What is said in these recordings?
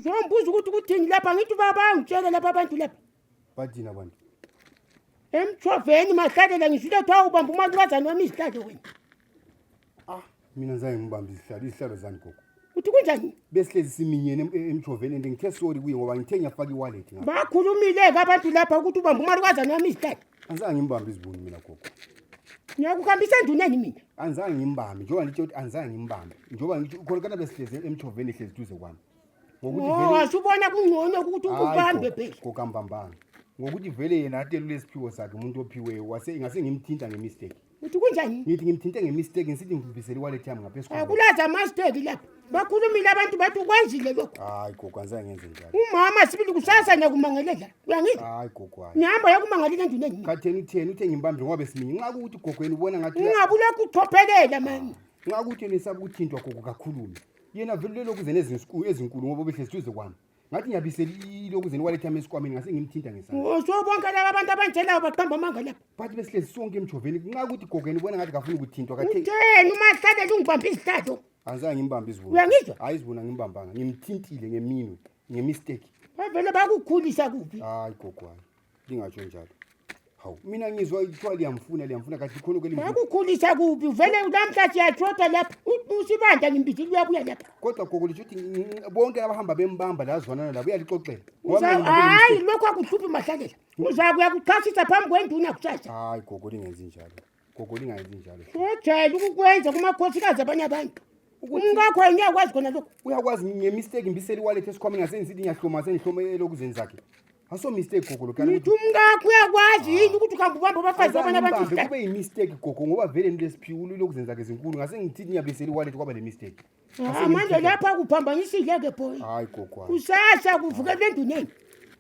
Njengobuza ukuthi kuthini lapha ngithi baba angitshele lapha abantu lapha. Bathini abantu? Emthoveni mahlalela ngisho ukuthi kuthiwa ubamba umalukazane wami izihlalo wena. Ah, mina ngizange ngibambe izihlalo, izihlalo zani gogo. Uthi kunjani? Besihlezi siminyene em- em- emthoveni and ngithe sorry kuye ngoba ngithe ngiyafaka i-wallet ngapha. Bakhulumile-ke abantu lapha ukuthi ubamba umalukazane wami izihlalo. Angizange ngimbambe izibuni mina gogo. Ngiyakuhambisa enduneni mina. Angizange ngimbambe njengoba ngitshela ukuthi angizange ngimbambe. Njengoba ngithi khona kana besihlezi emthoveni ehlezi duze kwami. ngokuthi vele wasubona oh, kungcono ukuthi ubambe phela kokambambanga ngokuthi vele yena atelule isiphiwo sakhe umuntu ophiweyo wase ingase ngimthinta ngemistake uthi kunjani ngithi ngimthinte ngemistake ngisithi ngibisele iwallet yami ngaphezu kwakho akulaza amasteki lapha bakhulumile abantu bathi ukwenzile lokho hayi gogo angize ngenze njalo umama sibili kusasa ngiyakumangalela uyangizwa hayi gogo hayi ngihamba yakumangalela endini engini khatheni kutheni uthe ngimbambile ngoba besimini nxa kuwuthi gogweni ubona ngathi ungabe ulokhu uchophelela mani nxa kuwuthi nisaba ukuthintwa gogo kakhulume yena vele lelokhu zene ezinkulu ezinkulu ngoba behlezi duze kwami ngathi ngiyabisela ilokhu zene waletha ama esikwameni ngase ngimthinta ngesandla usho bonke laba abantu abanjelayo baqamba amanga lapha but besihlezi sonke emjoveni kunxa ukuthi gogeni ubona ngathi kafuni ukuthintwa kathe utheni uma hlale lungibambe izihlazo angizange ngimbambe izibona Uyangizwa? hayi izibona ngimbambanga ngimthintile ngeminwe ngemistake bavele bakukhulisa kuphi hayi gogwana lingatsho njalo hawu mina ngizwa kuthiwa liyamfuna liyamfuna kahle khona ke akukhulisa kuphi uvele namhla siyashoda lapha usibanda ngimbizile uyabuya lapha kodwa gogo lisho ukuthi bonke abahamba bembamba la zwanana labo uyalixoxela hayi lokho akuhluphi mahlakela uzakuya kuchasisa phambi kwenduna kusasa hayi gogo lingenzi njalo gogo lingayenzi njalo ujayele ukukwenza kumakhosikazi abanye abantu umkakho yena uyakwazi khona lokho uyakwazi ngemistake mbiseli wallet esikhwameni ngasengisithi ngiyahloma sengihloma elokuzeni zakhe aso mistake gogo lokho ngithi umkakho uyakwazi yini ukuthi ukhamba ubamba abafazi abanye abantu kube yimistake gogo ngoba vele nto lesiphiwulu lokuzeni zakhe zinkulu ngase ngithi ngiyabiseli wallet kwaba le mistake Ah, manje lapha kuphambanisile-ke boy hayi gogo hayi. kusasa kuvukele enduneni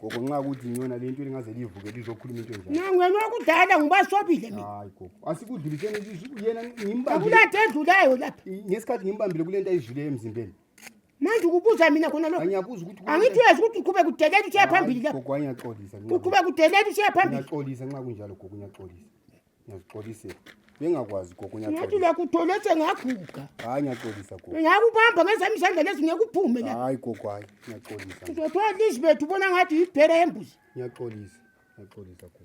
gogo nxa kuthi ngiyona le nto elingaze livuke lizokhuluma into enjani nangwena wakudala ngubasobile mina hayi gogo asikudluliseni isu- yena ngimbambile akulade edlulayo lapha i- ngesikhathi ngimbambile kule nto ayidluleyo emzimbeni manje ukubuza mina khona lokho angiyabuza ukuthi kule- angithi uyazi ukuthi uqhube kudelela usiya phambili Hayi, lapha gogo angiyaxolisa nxa- uqhube kudelela usiya phambili ngiyaxolisa nxa kunjalo gogo ngiyaxolisa Ngiyazixolisa. Bengakwazi gogo Ngathi ngiyacela. uyakuthola sengaguga. Hayi ngiyacela gogo. Ngiyakubamba ngezami izandla lezi ngeke uphume la. Hayi gogo hayi ngiyacela. Uzothola ilizwe bethu ubona ngathi yibhera yembuzi. Ngiyacela. Ngiyacela gogo.